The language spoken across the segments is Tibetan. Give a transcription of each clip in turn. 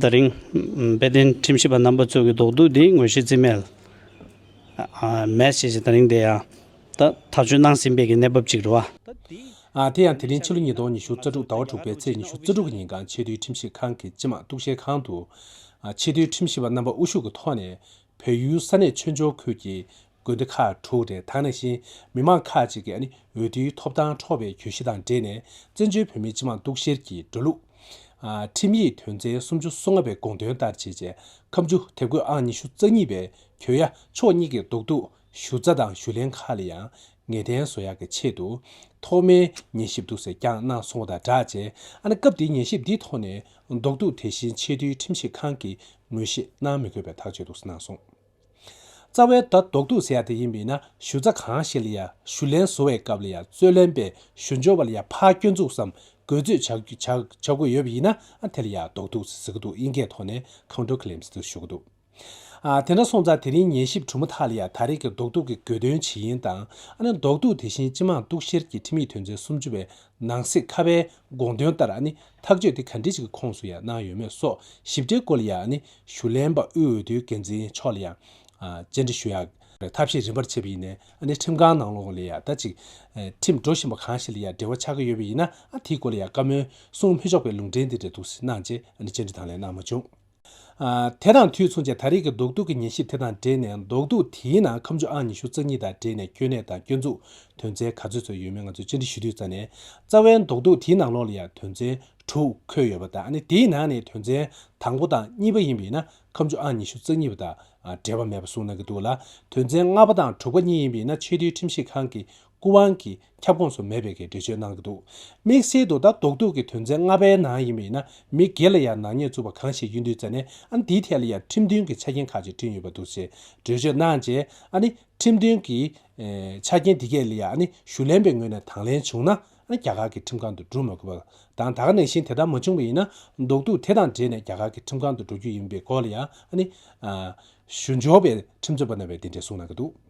ད་རིང། དཔལ་ལྡན་ཁྲིམས་ཞིབ་པ་རྣམ་པ་ཚོས་ཀྱི་དོགས་འདུག་འདིའི་ངོས་བཞེས་རྩིས་མེད། མེད་ཞེས་ཞེས་ད་རིང་དེ་ཡང། ད་ཐག་གཅོད་གནང་ཟིན་པའི་ཀྱི་གནས་བབ་ཅིག་རེད་བ། དེ་ཡང་དེ་རིང་ཕྱི་ལོ་ཉིས་སྟོང་ཉི་ཤུ་རྩ་དྲུག་ཟླ་བ་དྲུག་པའི་ཚེས་ཉི་ཤུ་རྩ་དྲུག་གི་ཉིན་གངས་ཆེ་རྡུལ་ཁྲིམས་ཞིབ་ཁང་གི་སྤྱི་དམངས་གཏུག་བཤེར་ཁང་དུ། ཆེས་མཐོའི་ཁྲིམས་ཞིབ་པ་རྣམ་པ་དབུ་བཞུགས་ཀྱི་ཐོག་ནས་བོད་ཡུལ་ས་གནས་ཆོས་འབྱོར་ཁུལ་གྱི་དགོན་སྡེ་ཁག་དྲུག་རེ་དང་ནས་གཞིན་མི་མང་ཁག་ཅིག་གིས་འོས་བསྡུའི་ཐོབ་ཐང་འཕྲོག་པའི་གྱོད་གཞི་དང་འབྲེལ་ནས་བཙན་བྱོལ་བོད་མིའི་སྤྱི་མང་གཏུག་བཤེར་གྱི་འགྲོ་ལུགས། ཁྲིམས་ཡིག་དོན་ཚན་སུམ་ཅུ་སོ་ལྔ་པའི་དགོངས་དོན་ལྟར་བྱེད་ཅེས་ཁམས་ཆུ་དེབ་སྐོས་ཨང་ཉི་ཤུ་རྩ་གཉིས་པའི་གྱོད་ཡ་ཕྱོགས་གཉིས་ཀྱི་རྡོག་ཐུག་ཞུ་རྩ་དང་ཞུ་ལན་ཁག་ལ་ཡང་ངེས་གཏན་བཟོ་ཡག་གི་ཆེད་དུ་ཐོག་མའི་ཉན་ཞིབ་འདུག་ཟེར་ཀྱང་གནང་སོང་བ་དང་སྦྲགས་རྗེས་ཨ་ན་སྐབས་དེའི་ཉན་ཞིབ་འདིའི་ཐོག་ནས་རྡོག་ཐུག་དེ་བཞིན་ཆེས་མཐོའི་ཁྲིམས་ཞིབ་ཁང་གིས་ངོས་བཞེས་གནང་མི་དགོས་པའི་ཐག་གཅོད་འདུག་གནང་སོང། རྩ་བའི་བརྡ་རྡོག་ཐུག་ཟེར་ཡག་དེ་ཡིན་མིན་ན་ཞུ་རྩ་གང་ཞིག་ལ་ཡང་ཞུ་ལན་བཟོ་བའི་སྐབས་ལ་ཡང་རྩོད་ལན་པའི་ཞུ་འབྱོར་བ་ལ་ཡང་ཕར་སྐྱོན་འཛུགས་སམ་རྒོལ་རྩོད་བྱ་དགོས་ཡོད་པ་ཡིན་ན་དེ་ལ་ཡག་རྡོག་ཐུག་ཟེར་གྱི་འདུག་དབྱིན་སྐད་ཐོག་ནས Counter Claims དུ་ཞུ་གི་འདུག་དེ་འདྲ་སོང་ཙང་དེ་རིང་ཉན་ཞིབ་གྲུབ་མ་ཐག་ལ་ཡང་ད་རེས་ཀྱི་རྡོག་ཐུག་གི་དགོས་དོན་ཇི་ཡིན་དང་རྡོག་ཐུག་དེ་བཞིན་སྤྱི་མང་གཏུག་བཤེར་གྱི་ཁྲིམས་ཡིག་དོན་ཚན་སུམ་ཅུ་བའི་ནང་གསེས་ཁ་བའི་དགོངས་དོན་ལྟར་ཐག་གཅོད་དེ་ག་འདྲི་ཞིག་གི་ཁོངས་སུ་ཡང་སྣང་ཡོད་མེད་སོགས་ཞིབ་ཕྲའི་སྐོར་ལ་ཡང་ནི་ཞུ་ལན་པ་དབུས་འོས་བསྡུའི་འགན་འཛིན་མཆོག་ལ་ཡང་བཅར་འདྲི་ཞུ་ཡག་པའི་ཐབས་ཤེས་རིམ་པར་བྱེད་པ་ཡིན་ནས་ནི་ཁྲིམས་ཁང་ནང་ལོགས་ལས་ཡང་ད་ཅིག་ཁྲིམས་འགྲོ་བཞིན་པ་གང་ཞིག་ལ་ཡང་འབྲེལ་བ་ཆགས་ཀྱི་ཡོད་པ་ཡིན་ན་དེའི་སྐོར་ལ་ཡང་བཀའ་མོལ་གསུང་མི་ཆོག་པའི་ལུང་འདྲེན་དེ་འདྲ་འདུག་སེ་གནང་རྗེས་ནི་བཅར་འདྲི་དང་ལེན་གནང་མ་བྱུང། དེ་དང་དུས་མཚུངས་ཀྱི་ད་རེས་ཀྱི་རྡོག་རྡུག་གི་ཉན་ཞིབ་དེ་དང་འབྲེལ་ནས་རྡོག་རྡུག་དེའི་ནང་ཁམས་ཆུ་ཨང་ཉི་ཤུ་རྩ་གཉིས་དང་འབྲེལ་ནས་སྐྱོན་གནད་དང་སྐྱོན་འཛུགས་དོན་ཚན་ག་ཚོད་ཚོད་ཡོད་མེད་ང་ཚོས་བཅར་འདྲི་ཞུ་དུས་རྩ་ནས་རྩ་བའི་རྡོག་རྡུག་དེའི་ནང་ལོགས་ལ་ཡང་དོན་ཚན་དྲུག་འཁོད་ཡོད་པ་དང་ནི་དེའི་ནང་ནས་དོན་ཚན་དང་པོ་དང་གཉིས་པ་ཡིན་པས་ན་ཁམས་ཆུ་ཨང་ཉི་ཤུ་རྩ་གཉིས་པ་དང་འབྲེལ་བ་མེད་པ་གསུངས་གནང་གི་འདུག་ལ་དོན་ཚན་ལྔ་པ་དང་དྲུག་པ་གཉིས་ཡིན་པས་ན་ཆེས་མཐོའི་ཁྲིམས་ཞིབ་ཁང་གི་སྐུ་དབང་གིས་ཁྱབ་ཁོངས་སུ་མེད་པའི་གི་འགྲེལ་བརྗོད་གནང་གི་འདུག་དམིགས་བསལ་དུ་ད་རྡོག་རྡོག་གི་དོན་ཚན་ལྔ་པའི་ནང་ཡིན་པ་ཡིན་ན་མི་སྒེར་ལ་ཡང་ནག་ཉེས་བཙུགས་པ་གང་ཞིག་ཡིན་དུས་རྩ་ནས་ཨ་འདིའི་ཐད་ལ་ཡང་ཁྲིམས་མཐུན་གྱི་ཆ་རྐྱེན་ཁག་ཅིག་བསྐྲུན་ཡོད་པ་འདུག་ཅེས་འགྲེལ་བརྗོད་གནང་རྗེས་ཨ་ནི་ཁྲིམས་མཐུན་གྱི་ཆ་རྐྱེན་འདི་གས་ལ་ཡང་ཨ་ནི་ཞུ་ལན་པའི་ངོས་ནས་དང་ལེན་བྱུང་ན་ཨ་ནི་རྒྱ་གར་གྱི་ཁྲིམས་ཁང་དུ་འགྲུ་མ་དགོས་པ་དང་ད་གནས་བཞིན་དེ་ལྟར་མ་བྱུང་བ་ཡིན་ན་རྡོག་རྡོག་དེ་དང་འབྲེལ་ནས་རྒྱ་གར་གྱི་ཁྲིམས་ཁང་དུ་འགྲོ་རྒྱུ་ཡིན་པའི་སྐོར་ལ་ཡང་ཨ་ནི་ཞུ་འབྱོར་བའི་ཁྲིམས་རྩོད་པ་རྣམས་པས་འདི་འདྲའི་གསུངས་གནང་གི་འདུག།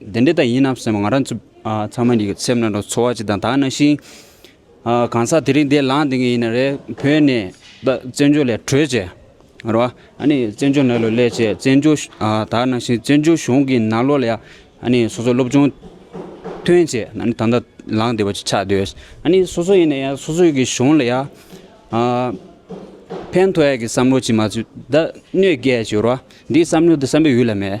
དེ་འདྲའི་ད་ཡིན་ནམ་སེམས་ང་རང་ཚོ་ཚང་མ་ནི་སེམས་ནང་དུ་ཚོར་བ་ཅིག་དང་དག་ན་ཞིང། གང་ཟག་དེ་རིང་དེ་ལངས་དེ་ངས་ཡིན་ན་རེད་བོས་ནས་ད་བཙན་བྱོལ་ལས་གྲོལ་བྱས། རེད་བ། ཨ་ནི་བཙན་བྱོལ་ནང་ལོ་ལས་བྱས་བཙན་བྱོལ་དག་ན་ཞིང་བཙན་བྱོལ་གཞུང་གི་ནང་ལོ་ལས་ཨ་ནི་སོ་སོ་སློབ་སྦྱོང་ཐོན་བྱས་ཨ་ནི་ད་ལྟ་ལངས་དེ་བ་ཅིག་ཆགས་འདོད། ཨ་ནི་སོ་སོ་ཡིན་ན་ཡ་སོ་སོ་གི་གཞུང་ལ་ཡ། ཕན་ཐོགས་ཡ་གི་བསམ་བློ་ཅིག་མ་ཚུད་ད་གནོད་སྐྱལ་ཅིག་རེད་བ། འདིའི་བསམ་བློ་འདི་བསམ་པའི་ཡུལ་ལ་མེད།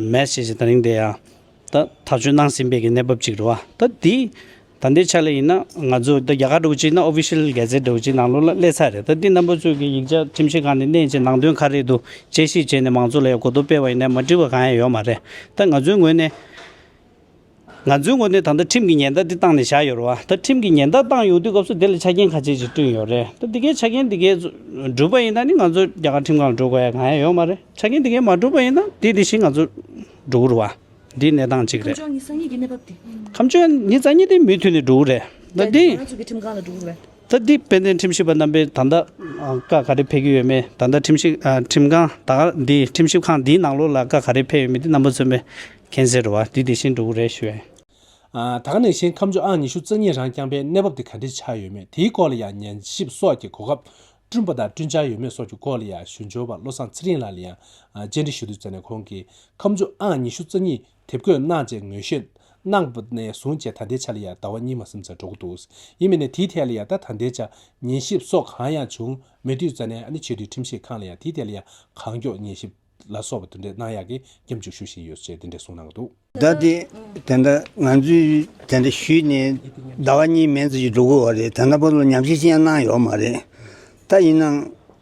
མེད། ཞེས་བྱ་བའི་རིང་དེ་ཡང་ད་ཐག་ཆོད་གནང་ཟིན་པའི་གནས་བབ་ཅིག་རེད། ད་འདི་ད་ལྟའི་ཆ་ལ་ཡིན་ན་ང་ཚོས་ད་རྒྱ་གར་འགྲོ་གཅིག་ན Official འགལ་ཟེར་འགྲོ་གཅིག་ནང་ལོགས་ལ་སླེ་ཚར་རེད། ད་འདི་རྣམ་པ་ཚོས་ཀྱི་ཡིག་ཆ་ཁྲིམས་ཤེས་ཁང་ནས་གནས་ཀྱི་ནང་དོན་ག་རེད་འདུག་དཔྱད་ཞིབ་བྱས་ནས་མང་ཚོགས་ལ་ཡང་གོ་བསྡུར་སྤེལ་བ་ཡིན་ན་མ་འགྲིག་པ་གང་ཡང་ཡོད་མ་རེད། ད་ང་ཚོའི་ངོས་ནས། ང་ཚོའི་ངོ་ནས་ད་ལྟ་ཁྲིམས་ཀྱི་ཉེན་བརྡ་འདི་བཏང་ནས་བཞག་ཡོད་རེད་བ། ད་ཁྲིམས་ཀྱི་ཉེན་བརྡ་བཏང་ཡོང་དུས་སྐབས་སུ་དེ་ལ་ཆ་རྐྱེན་ཁ་ཆེ་ཞིག་བསྐྲུན་ཡོད་རེད། ད་འདི་གའི་ཆ་རྐྱེན་འདི་གའི་འགྲུབ་པ་ཡིན་ན་ནི་ང་ཚོ་རྒྱ་གར་ཁྲིམས་ཁང་ལ་འགྲོ་དགོས་ཡ་གང་ཡང་ཡོད་མ་རེད། ཆ་རྐྱེན་འདི་གའི་མ་འགྲུབ་པ་ཡིན་ན་དེ་དེ་བཞིན་ང་ཚོ་འགྲོ་གི་རུ་བ། འདི་གནས་སྟངས་གཅིག་རེད། ཁམས་ཕྱོགས་ཉིད་གསང་ཉིད་ཀྱི་གནས་བབ་འདི། ཁམས་ཕྱོགས་ཉིད་གསང་ཉིད་འདི་མུས་མཐུད་ནས་འགྲོ་གི་རེད། ད་འདི། རྒྱ་ནག་གི་ཁྲིམས་ཁང་ལ་འགྲོ་གི་རེད། ད་ལྟའི་དཔལ་ལྡན་ཁྲིམས་ཞིབ་པ་རྣམ་པས་ད་ལྟ་བཀའ་ག་རེ་ཕེབས་ཀྱི་ཡོད་མེད་ད་ལྟ་ཁྲིམས་ཞིབ་ཁྲིམས་ཁང་ད་ག་འདི་ཁྲིམས་ཞིབ་ཁང་འདིའི་ནང་ལོགས་ལ་བཀའ་ག་རེ་ཕེབས་ཡོད་མེད་དེ་རྣམ་པ་རྩོད་མེད་མཁྱེན་ཟེར་བ་འདི་དེ་བཞིན་འགྲོ་གི་རེད་ཞུས། ད་ག་ནས་གཞན་ཁམས་ཕྱོགས་ཨང་ཉི་ཤུ་རྩ་གཉིས་རང་བསྐྱངས་པའི་གནས་བབ་དེ་ག་འདྲས་ཆགས་ཡོད་མེད་དེའི་སྐོར་ལ་ཡང་ཉན་ཞིབ་སོགས་ཀྱི་གོ་སྐབས་བསྐྲུན་པ་དང་བསྐྲུན་འཆར་ཡོད་མེད་སོགས་ཀྱི་སྐོར་ལ་ཡང་ཞུ་འབྱོར་བ་བློ་བཟང་ཚེ་རིང་ལགས་ལ་ཡང་བཅར་འདྲི་ཞུ་དུས་བཙལ་ནས་ཁོང་གིས་ཁམས་ཕྱོགས་ཨང་ཉི་ཤུ་རྩ་གཉིས་དེབ་འགོད་གནང་བཅས་ངོས་བཞེས་གནང་པ་ནས་བཟུང་བཅས་ད་ལྟའི་ཆ་ལ་ཡང་ཟླ་བ་གཉིས་མ་སོན་ཚར་འགྲོ་གི་འདུག་ཡིན་མིན་ནས་དེའི་ཐད་ལ་ཡང་ད་ལྟའི་ཆ་ཉན་ཞིབ་སོགས་གང་ཡང་བྱུང་མེད་དུས་རྩ་ནས་ཨ་ནེ་ཆོས་སྡུད་ཁྲིམས་ཞིབ་ཁང་ལ་ཡང་དེའི་ཐད་ལ་ཡང་གང་མགྱོགས་ཉན་ཞིབ་ལ་སོགས་པ་དེ་འདྲ་གནང་ཡག་གི་སྐྱབས་འཇུག་ཞུ་བཞིན་ཡོད་ཅེས་དེ་འདྲ་གསུངས་གནང་གི་འདུག། ཟླ་འདི་དེ་འདྲ་ང་ཚོས་དེ་འདྲ་ཞུས་ནས་ཟླ་བ་གཉིས་མན་ཙམ་ཞིག་འགྲོ་གི་འོ་རེད་དེ་འདྲ་པོ་ལ་ཉམས་ཞིབ་ཅི་ཡང་གནང་ཡོད་མ་རེད་ད་ཡིན་ནའང།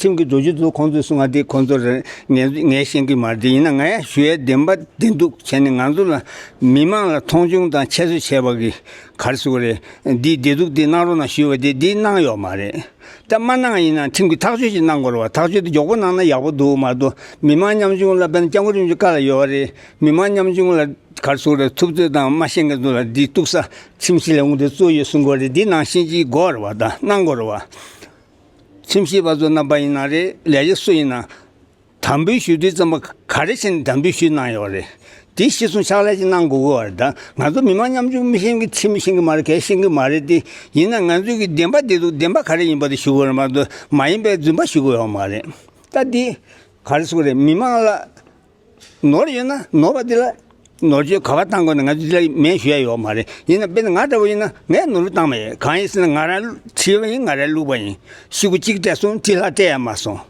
ཁྱིམ་གྱི་རྡོ་རྗེ་ཚོ་ཁོང་ཚོས་གསུང་ང་དེ་ཁོང་ཚོར་ངའི་ཤེས་ཀྱི་མ་རེད་དེ་ཡིན་ན་ངའི་ཞུ་ཡའི་བདེན་པ་བདེན་སྡུག་བྱས་ནས་ང་ཚོ་ལ་མི་དམངས་ལ་མཐོང་ཆུང་དང་ཁྱད་གསོད་བྱས་པ་གི་གར་སོ་རེད་འདིའི་བདེ་སྡུག་དེ་གནང་རོགས་གནང་ཞུས་པ་དེ་འདི་གནང་ཡོག་མ་རེད་ད་མ་གནང་ཡིན་ན་ཁྲིམས་ཀྱི་ཐག་གཅོད་ཅིག་གནང་དགོས་རོགས་ཐག་གཅོད་དེ་མགྱོགས་པོ་གནང་ན་ཡག་པོ་འདུག་མ་གཏོགས་མི་དམངས་ཉམ་ཆུང་ལ་དཔེར་ན་སྐྱབས་མགོན་རིན་པོ་ཆེ་བཀའ་ལ་ཡོད་བ་རེད་མི་དམངས་ཉམ་ཆུང་ལ་གར་སོ་རེད་ཐུབ་ཚོད་དང་མ་ཤེས་མཁན་ཚོ་ལ་འདི་གཏུགས་ས་ཁྲིམས་ཞིག་ལས་འོངས་དེ་གཙོ་ཡོད་གསུང་དགོས་རེད་འདི་ནང་བཞིན་ཅིག་དགོས་རོགས་བ་ད་གནང་དགོས་རོགས་བ། ཁྲིམས་ཞིབ་པ་ཚོ་རྣམ་པ་ཡིན་ན་རེད་ལས་བྱེད་སུ་ཡིན་ན། དམ་འབུལ་ཞུ་དུས་ཙམ་པ་ག་རེ་བྱས་ནས་དམ་འབུལ་ཞུས་གནང་ཡོད་རེད། དེ་གཞི་བཟུང་ཕྱག་ལས་ཅིག་གནང་དགོས་དགོས་རེད་ད། ང་ཚོ་མི་མང་མཉམ་ཆུང་མི་ཤེས་གི་ཁྲིམས་ཤེས་གི་མ་རེད་གལ་ཤེས་གི་མ་རེད་དེ། ཡིན་ན་ང་ཚོས་གི་བདེན་པ་འདི་འདུག་བདེན་པ་ག་རེ་ཡིན་པ་དེ་ཞུ་དགོས་རེད་མ་གཏོགས་མ་ཡིན་པའི་རྫུན་པ་ཞུ་དགོས་ཡོད་མ་རེད། ད་འདི་ག་རེ་སུ་རེད་མི་མང་ལ། ནོར་ཡོད་ན་ནོར་བ་འདི་ལ་ནོར་འཁྲུལ་ག་བ་བཏང་དགོས་ན་ང་ཚོ་འདི་ལ་མེད་ཞུ་ཡ་ཡོད་མ་རེད་ཡིན་ན་དཔེར་ན་ང་ལྟ་བུ་ཡིན་ན་ངས་ནོར་འཁྲུལ་བཏང་མ་ཡིན་གང་ཡིན་ཟེར་ན་ང་རང་ཁྲིད་པ་ཡིན་ང་རང་བླུགས་པ་ཡིན་ཤི་གུ་གཅིག་སྤྲད་སོང་ཁྲི་ལྷག་སྤྲད་ཡ་མ་སོང།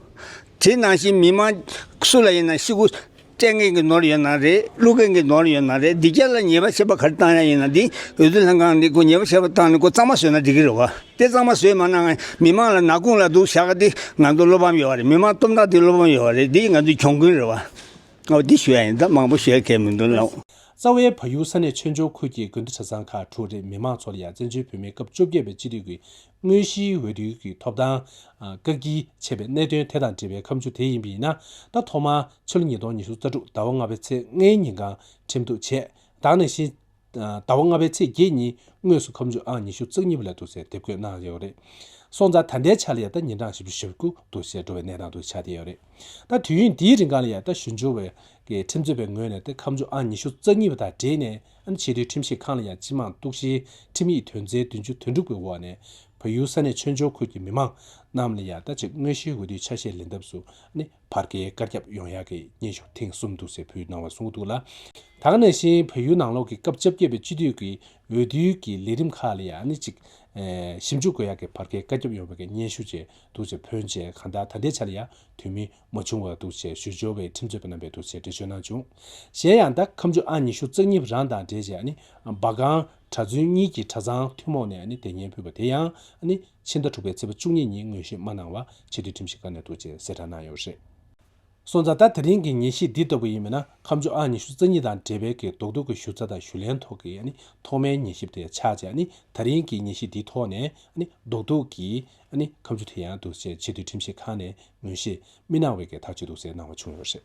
དེ་ནང་བཞིན་མི་མང་སུ་ལ་ཡིན་ན་ཤི་གུ་སྤྲད་མཁན་གྱི་ནོར་ཡོད་ན་རེད་བླུགས་མཁན་གྱི་ནོར་ཡོད་ན་རེད་འདི་ག་ལ་ཉེས་པ་བྱེད་པ་ག་རེ་བཏང་ཡ་ཡིན་ན་འདི་འོས་བསྡུ་ལྷན་ཁང་འདི་ཁོ་ཉེས་པ་བྱེད་པ་བཏང་ནས་ཁོ་གཙང་མ་བཟོས་ན་འགྲིག་གི་རེད་བ། དཔེ་གཙང་མ་བཟོས་མ་གནང་མི་མང་ལ་ནག་ཁུང་ལ་འདུག་བཞག་དེ་ང་ཚོ་བློ་ཕམ་ཡོད་རེད་མི་མང་སྟོབས་འདང་དེ་བློ་ཕམ་ཡོད་རེད་འདི་ང་ཚོའི་གྱོང་གུན་རེད་བ། ཨོ་འདི་ཞུ་ཡ་ཡིན་ད་མང་པོ་བཤད་གལ་མི་འདུག་ལ། རྩ་བའི་བལ་ཡུལ་ས་གནས་ཆོས་འབྱོར་ཁུལ་གྱི་དགོན་སྡེ་ཆ་ཚང་ཁག་དྲུག་རེ་མི་མང་ཚོ་ལ་ཡང་བཙན་བྱོལ་བོད་མིའི་སྐབས་བཅོ་བརྒྱད་པའི་སྤྱི་འཐུས་ཀྱི་དངོས་གཞིའི་འོས་བསྡུའི་གི་ཐོབ་ཐང། བཀག་བསྐྱིལ་བྱས་པའི་གནད་དོན་དེ་དང་འབྲེལ་བའི་ཁམས་ཆུ་དེ་ཡིན་པ་ཡིན་ན་ད་ཐོག་མར་ཕྱི་ལོ་ཉིས་སྟོང་ཉི་ཤུ་རྩ་དྲུག་ཟླ་བ་ལྔ་པའི་ཚེས་ལྔའི་ཉིན་ཁང་ཁྲིམས་གཏུགས་བྱས་བདག་ནས་གཞི་ཟླ་བ་ལྔ་པའི་ཚེས་བརྒྱད་ཉིན་དངོས་སུ་ཁམས་ཆུ་ཨང་ཉི་ཤུ་རྩ་གཉིས་པ་ལས་འདུག་ཟེར་དེབ་འགོད་གནང་ཡོད་རེད། སོང་ཙང་ད་ལྟའི་ཆར་ལ་ཡང་ད་ཉིན་གྲངས་བཞི་བཅུ་ཞེ་དགུ་འདུག་ཟེར་འགྲོ་བའི་གནས་སྟངས་འདུག་ཆ་དེ་ཡོད་རེད། ད་དུས་ཡུན་འདིའི་རིང་གང་ལ་ཡང་ད་ཞུ་འབྱོར་བའི་ཁྲིམས་རྩོད་པའི་ངོས་ནས་ད་ཁམས་ཆུ་ཨང་ཉི་ཤུ་རྩ་གཉིས་པ་དང་འབྲེལ་ནས་ཨ་ཆེས་མཐོའི་ཁྲིམས་ཞིབ་ཁང་ལ་ཡང་སྤྱི་མང་གཏུག་བཤེར་ཁྲིམས་ཡིག་དོན་ཚན་བདུན་ཅུ་དོན་དྲུག་པའི་འོག་ནས་བལ་ཡུལ་ས་གནས་ཆོས་འབྱོར་ཁུལ་གྱི་མི་མང་རྣམས་ལ་ཡང་ད་ཆེས་དངོས་གཞིའི་འོས་བསྡུའི་ཆ་ཤས་ལེན་ཐབས་སུ་བར་གྱི་བཀའ་ཁྱབ་ཡོངས་ཡག་གི་སྙན་ཞུ་ཐེངས་གསུམ་འདུག་ཟེར་ཕུལ་གནང་བ་གསུངས་འདུག་ལ། དྭགས་ནས་བཞིན་བོད་ཡུལ་ནང་ལོགས་ཀྱི་སྐབས་བཅོ་བརྒྱད་པའི་སྤྱི་འཐུས་ཀྱི་འོས་བསྡུའི་གི་ལས་རིམ་ཁག་ལ་ཡང་ནི་ཅིག། ཞིབ་འཇུག་དགོས་ཡག་གི་བར་གྱི་བཀའ་ཁྱབ་ཡོངས་ཡག་གི་སྙན་ཞུ་བཅས་འདུག་ཅེས་ཕོན་ཆེ་གང་དག་ད་ལྟའི་ཆ་ལ་ཡང་དུས་མི་མ་བྱུང་བར་འདུག་ཅེས་ཞུ་འབྱོར་བའི་ཁྲིམས་རྩོད་པ་རྣམ་པས་འདུག་ཅེས་འགྲེལ་བརྗོད་གནང་བྱུང། གཞན་ཡང་ཟླ་ཁམས་ཆུ་ཨང་ཉི་ཤུ་རྩ་གཉིས་རང་དང་འབྲེལ་ཅེས་ནི་འབའ་སྒང་གྲྭ་བཙུན་གཉིས་ཀྱི་གྲྭ་ཚང་ཐུན་མོང་ནས་ནི་དེ་སྙན་ཕུལ་བ་དེ་ཡང་ནི། ཕྱི་ཟླ་དྲུག་པའི་ཚེས་བཅུ་གཉིས་ཉིན་དངོས་གཞི་མ་གནང་བ་ཕྱི་དྲིལ་ཁྲིམས་ཞིབ་ཁང་ནས་ཐུགས་རྗེ་གསལ་བསྒྲགས་གནང་ཡོད་རེད། སོང་ཙང་ད་དེ་རིང་གི་ངེས་ཤེས་འདི་ལྟ་བུ་ཡིན་མིན་ན་ཁམས་ཕྱོགས་ཨང་ཉི་ཤུ་རྩ་གཉིས་དང་འབྲེལ་བའི་གི་རྡོག་རྡོག་གི་ཞུ་རྩ་དང་ཞུ་ལན་ཐོག་གི་ཐོག་མའི་ངེས་ཤེས་དེ་ཆགས་རྗེས་ད་རིང་གི་ངེས་ཤེས་འདི་ཐོག་ནས་རྡོག་རྡོག་གི་ཁམས་ཆུ་དེ་ཡང་འདུག་ཅེས་ཕྱི་དྲིལ་ཁྲིམས་ཞིབ་ཁང་ནས་ངོས་ཤེས་མི་གནང་བའི་གི་ཐག་གཅོད་འདུག་ཟེར་གནང་བ་བྱུང་ཡོད་རེད།